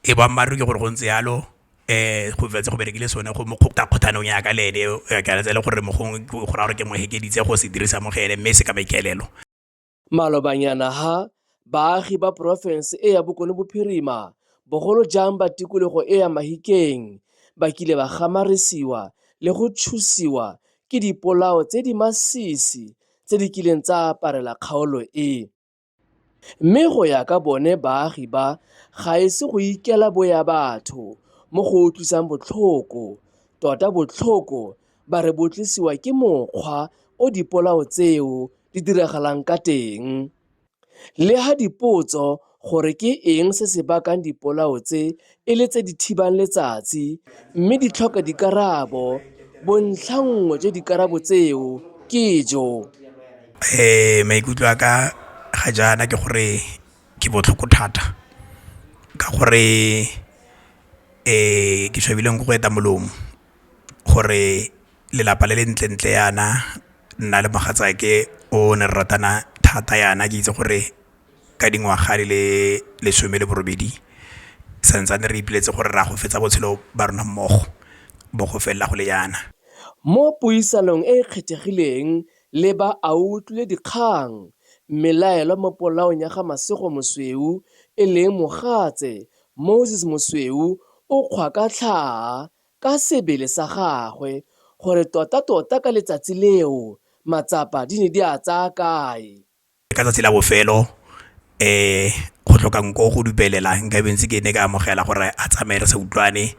Ee, boammaaruri ke gore go ntse yalo go fetse go berekile sone go mo kgotla kgotlhanong ya ka le ene ke a tsela gore mo gongwe go raya gore ke mo ekeditse go se dirisa mo go ene mme se ka maikaelelo. Malobanyana ha, baagi ba porofense e ya Bokone Bophirima, bogolo jang ba tikologo e ya Mahikeng, ba kile ba gamarisiwa le go tshusiwa ke dipolao tse di masisi tse di kileng tsa aparela kgaolo e. Mme go ya ka bone baagi ba ga e se go ikela boya batho mo go utlwisang botlhoko, tota botlhoko ba re bo tlisiwa ke mokgwa o dipolao tseo di diragalang ka teng. Le ha dipotso gore ke eng se se bakang dipolao tse e le tse di thibang letsatsi mme di tlhoka dikarabo. Bontlhangwe jwa dikarabo tseo ke jo. Ee, maikutlo a ka ga jaana ke gore ke botlhoko thata ka gore ke tshwabileng ke go eta molomo gore lelapa le le ntlentle yana nna le mogatsaake o ne re ratana thata yana ke itse gore ka dingwaga di le lesome le borobedi santsane re ipoleletse gore re a go fetsa botshelo ba rona mmogo bo go felela go le jaana. Mo puisanong e e kgethegileng le ba a utlwile dikgang, mmelaelwa mo polaong ya ga Masego Mosweu e leng mogatse Moses Mosweu o kgwa ka tlhaa ka sebele sa gagwe gore tota tota ka letsatsi leo matsapa di ne di a tsaya kae. ka tsatsi la bofelo go tlhoka nko go dupelela nka be ntse ke ne ka amogela gore a tsamaye re sa utlwane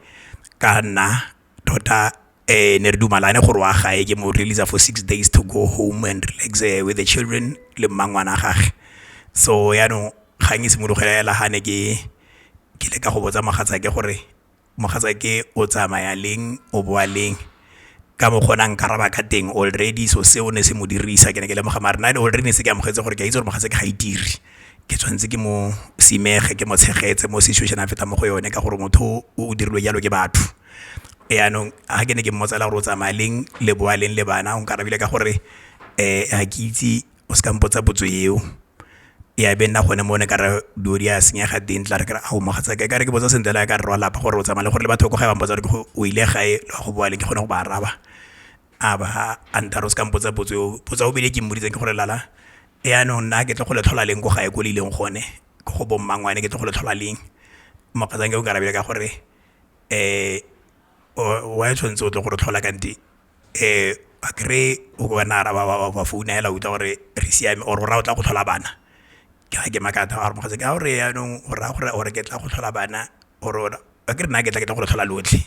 ka nna tota ne re dumalane gore wa gae ke mo release-a for six days to go home and relax with the children le mmangwana wa gage so yanong kgang e simologa fela ha ne ke ke leka go botsa mogatsa ke gore mogatsake o tsamaya leng o boa leng ka mokgwa o ne a nkaraba ka teng already so seo ne se mo dirisa ke ne ke lemoga mare nna already ne se ke amogetse gore ke a itse gore mogatsake ga itire ke tshwanetse ke mo simege ke mo tshegetse mo situation a fetang mo go yone ka gore motho o dirilwe jalo ke batho jaanong ga ke ne ke mmotsa le gore o tsamaya leng le boa leng le bana o nkarabile ka gore ga ke itse o seka mpotsa potso eo ya be nna gone mo ne ka re dilo di a senyega teng tla re ke re ao mogatsa ke ka re ke botsa sentle le ya ka rre wa lapa gore o tsamaya le gore le batho ba ko gae ba mpotsa gore o ile gae le wa go boa le ke kgone go ba araba a ba a nthare o seka mpotsa potso eo potso ya bobedi e ke mmoditseng ke gore lala jaanong nna ke tle go le tlhola leng ko gae ko le ileng gone ko go bo mmangwane ke tle go le tlhola leng mogatsake o nkarabile ka gore wa tshwanetse o tle go re tlhola kante. a kry-e o ka nna a araba ba ba founa hela utlwa gore re siame or o ra o tla go tlhola bana ke ge ke makatha a re mogatsa ke a o re yanong o raya gore or ke tla go tlhola bana or a ke re nna ke tla ke tla go le tlhola lotlhe.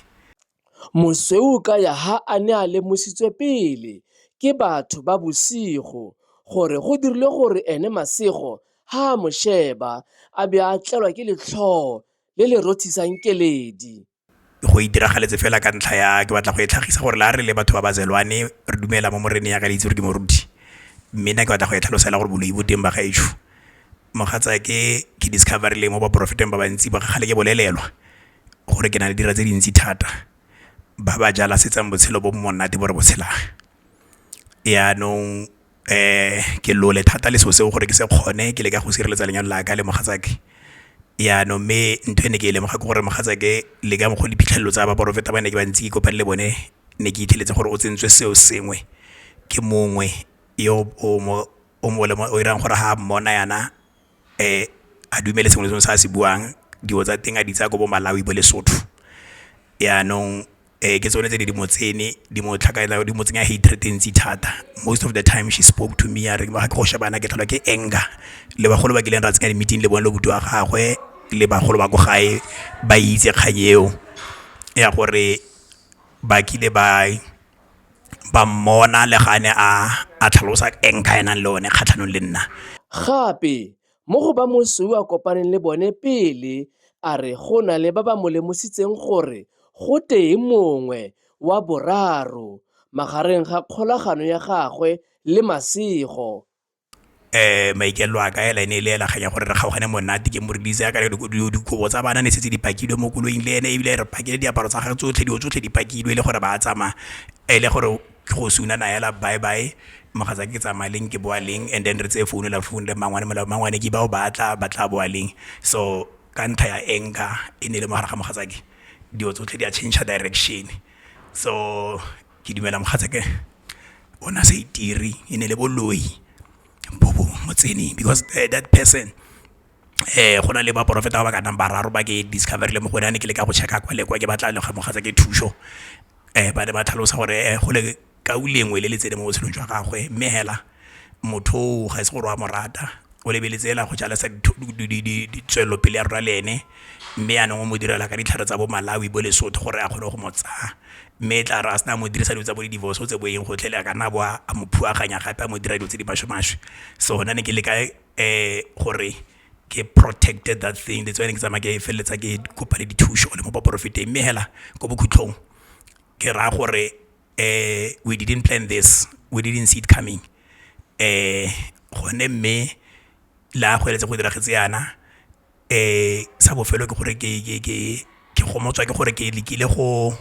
Mosweu ka ya ha a ne a lemositswe pele ke batho ba bosigo gore go dirile gore ene Masego ha a mo sheba a be a tlelwa ke letlhoo le le rothisang keledi. go e diragaletse fela ka ntlha ya ke batla go e tlhagisa gore la re le batho ba ba zelwane re dumela mo moreneng ya ka le itse gore ke moruti mme nna ke batla go e tlhalosela gore boloi bo teng ba gaetsho mogatsa ke ke discover le mo ba profeteng ba bantsi ba kgale ke bolelelwa gore ke na le dira tse dintsi thata ba ba jala setsang botshelo bo monate bo re botshelang yanong ke lole thata le selo seo gore ke se kgone ke leka go sireletsa lenyalo la ka le mogatsake jaanong mme ntho e ne ke e lemoga ke gore mogatsake le ka mokgwa o diphitlhelelo tsa baporofeta ba ne ke ba ntse ke kopane le bone ne ke itlheletse gore o tsentswe seo sengwe ke mongwe yo o mo o mo o irang gore ha mmona yana a dumele sengwe le sengwe se a se buang dilo tsa teng a di tsaya ko bo Malawi bo Lesotho yanong ke tsone tse di di mo tsene di mo tlhakatlhakanya di mo tsenya hatred e ntsi thata most of the time she spoke to me ya re ga ke go shebana ke tlholwa ke anger le bagolo ba kileng ra tsenya di-meeting le bone le buti wa gagwe le bagolo ba ko gae ba itse kgang eo ya gore ba kile ba. ba mmona le ga a ne a tlhalosa eng ka e nang le one kgatlhanong le nna. Gape, mo go ba mosweu a kopaneng le bone pele, a re go na le ba ba mo lemositseng gore go tee mongwe, wa boraro, magareng ga kgolagano ya gagwe le masego. maikaelelo a ka hela e ne e le hela kgang ya gore re kgaogane monate ke mo release ya ka re dikobo tsa bana ne setse di pakilwe mo koloing le ene ebile re pakile diaparo tsa gagwe tsotlhe dilo tsotlhe di pakilwe e le gore ba tsamaya e le gore ke go sunana hela bye bye mogatsa ke tsamaya leng ke boa leng and then re tseye founu la founu le mmangwane mola mmangwane ke bao ba tla ba tla boa leng so ka ntlha ya anger e ne e le mogare ga mogatsake dilo tsotlhe di a change direction so Ke dumela mogatsake o ne a sa itire e ne le boloi bo bo mo tseneng because that person go na le ba profeta ba ba ka nnang bararo ba ke discover-ile mo go one ha ne ke le ka go check-a kwa le kwa ke batla ga mogatsake thuso ba ne ba tlhalosa gore go le lengwe le le tseneng mo botshelong jwa gagwe mme hela motho o ga e se gore wa mo rata o lebeletse ela go jalesa ditswelelopele ya rona le ene mme yanong o mo direla ka ditlhare tsa bo malawi bo lesotho gore a kgone go mo tsaya mme e tla re a sena mo dirisa dilo tsa bo di divorce o tse bo eng gotlhele a ka nna bo a mo phuaganya gape a mo dira dilo tse di maswe maswe so gona ne ke le ka um gore ke protected that thing that's why ne ke tsamaya ke feleletsa ke kopa le dithuso le mo baporofeteng mme hela ko bokhutlhong ke raya gore we didn't plan this, we didn't see it coming gone mme la go eletsa go diragetse yana sa bofelo ke gore ke gomotswa ke gore ke lekile go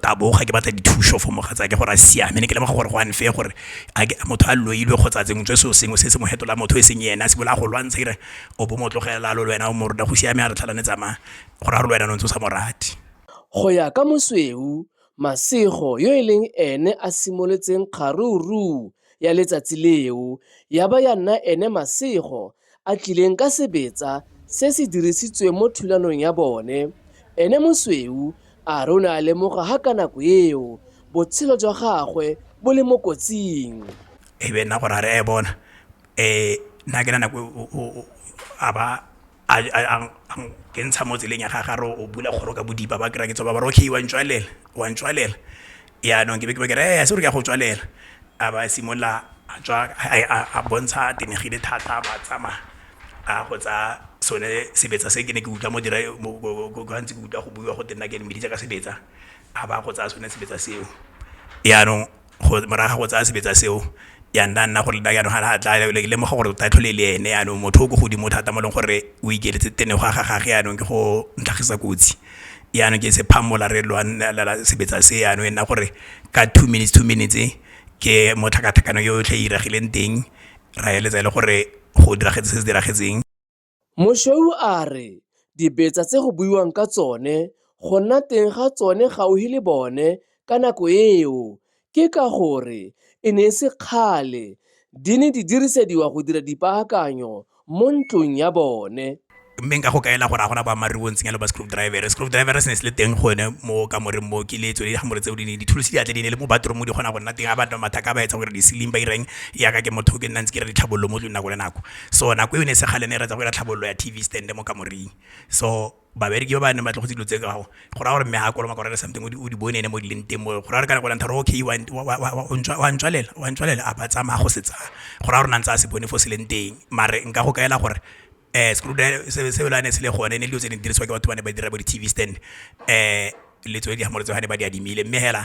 taboga ke batla dithuso for mogatsa ke gore a siame ne ke lemoga gore go unfair gore motho a loilwe kgotsa tsengwe tse seo sengwe se se mo fetola motho e seng ene a se bola go lwantsha ire o bo mo tlogela lo le wena o mo rona go siame a re tlhalane tsamaya gore a re le wena o ntse o sa morati Go ya ka Mosweu Masego yo e leng ene a simolotseng kgarooruu ya letsatsi leo ya ba ya nna ene Masego a tlileng ka sebetsa se se dirisitsweng mo thulanong ya bone, ene Mosweu a re o ne a lemoga ha ka nako eo botshelo jwa gagwe bo le mo kotsing. E be nna gore a re e bona nna ke na nako a ba ke ntsha mo tseleng ya gagare o bula kgoro ka bodipa ba kry-a ke tsoba ba re okay wa ntswalela wa ntswalela yaanong ke be ke ba ke re e se gore ke ya go tswalela a ba simolola a tswa a bontsha a tenegile thata ba tsamaya a go tsa sone sebetsa se ke ne ke utlwa mo dira gantsi ke utlwa go buiwa go teng nna ke mmeditse ka sebetsa a ba go tsaya sone sebetsa seo yaanong morago go tsaya sebetsa seo ya nna nna gore nna jaanong ga a tla ke lemoga gore tota tlhole e le ene jaanong motho o ko godimo thata mo e leng gore o ikeletse tene go a ga gage jaanong ke go ntlhagisa kotsi jaanong ke se phamola re lwanelela sebetsa se jaanong e nna gore ka two minutes two minutes ke mo tlhakatlhakano yotlhe e iragileng teng ra eletsa e le gore go diragetse se se diragetseng. Moshweu a re dibetsa tse go buiwang ka tsone go nna teng ga tsone gaufi le bone ka nako eo ke ka gore e ne e se kgale di ne di dirisediwa go dira dipaakanyo mo ntlong ya bone. Mme nka go kaela gore a gona boammaaruri bo ntseng yalo ba screwdriver. Screwdriver se ne se le teng gone mo kamoreng mo ke le tsone digamore tseo di ne dithulusi di atle di ne le mo bathroom di kgona go nna teng ga ba nna mathaka ba etsa gore di-ceiling ba ireng yaka ke motho ke nna ntse ke re ditlhabololo mo tlong nako le nako. so nako eo ne se gale ne re tsa go ira tlhabololo ya TV stand mo kamoring so babereki ba ba neng ba tlogotse dilo tse ka go go ra gore mme ha kolo makoro le something o di bone ne mo di leng teng mo go ra re ka go lantha okay wa ntswa wa ntswalela wa ntswalela a ba tsamaya go setsa go ra gore nang tsa se bone fo se leng teng mare nka go kaela gore eh screw driver se se la ne se le gone ne dilo tse di diriswa ke batho ba ne ba dira bo di TV stand eh le tswe di ha mo re tswa ne ba di adimile mme hela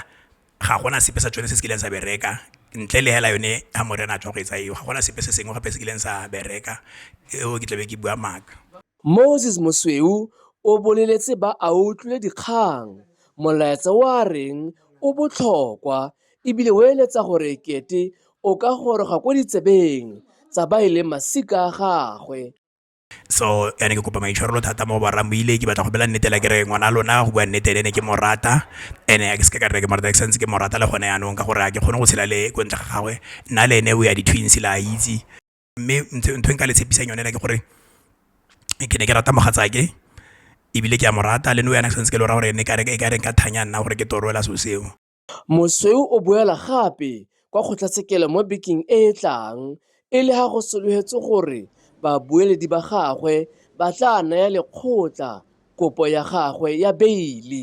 ga gona sepe sa tsone se se kileng sa bereka ntle le hela yone ha morena a tswa go etsa eo ga gona sepe se sengwe gape se kileng sa bereka eo ke tlabe ke bua maaka Moses Mosweu o boleletse ba a utlwile dikgang molaetsa o a reng o botlhokwa ebile o eletsa gore ekete o ka goroga ko ditsebeng tsa ba e leng masika a gagwe. so ene ke kopa maitshwarelo thata mo barang boile ke batla go bela nnete la kere ngwana lona go bua nnete ene ke morata ene ke seke ka reke morata ke santse ke morata le gone yanong ka gore a ke kgone go tshela le ko ntle ga gagwe nna le ene o ya di-twins la a itse mme ntho e nka le tshepisang yone ke gore ke ne ke rata mogatsake ebile ke a morata le no yana ke santse ke lora gore ne ka re ka reng ka thanya nna gore ke toroela so seo Mosweu o boela gape kwa kgotlatshekelo mo bekeng e e tlang e le ga go solofetswe gore babueledi ba gagwe ba tla naya lekgotla kopo ya gagwe ya beile.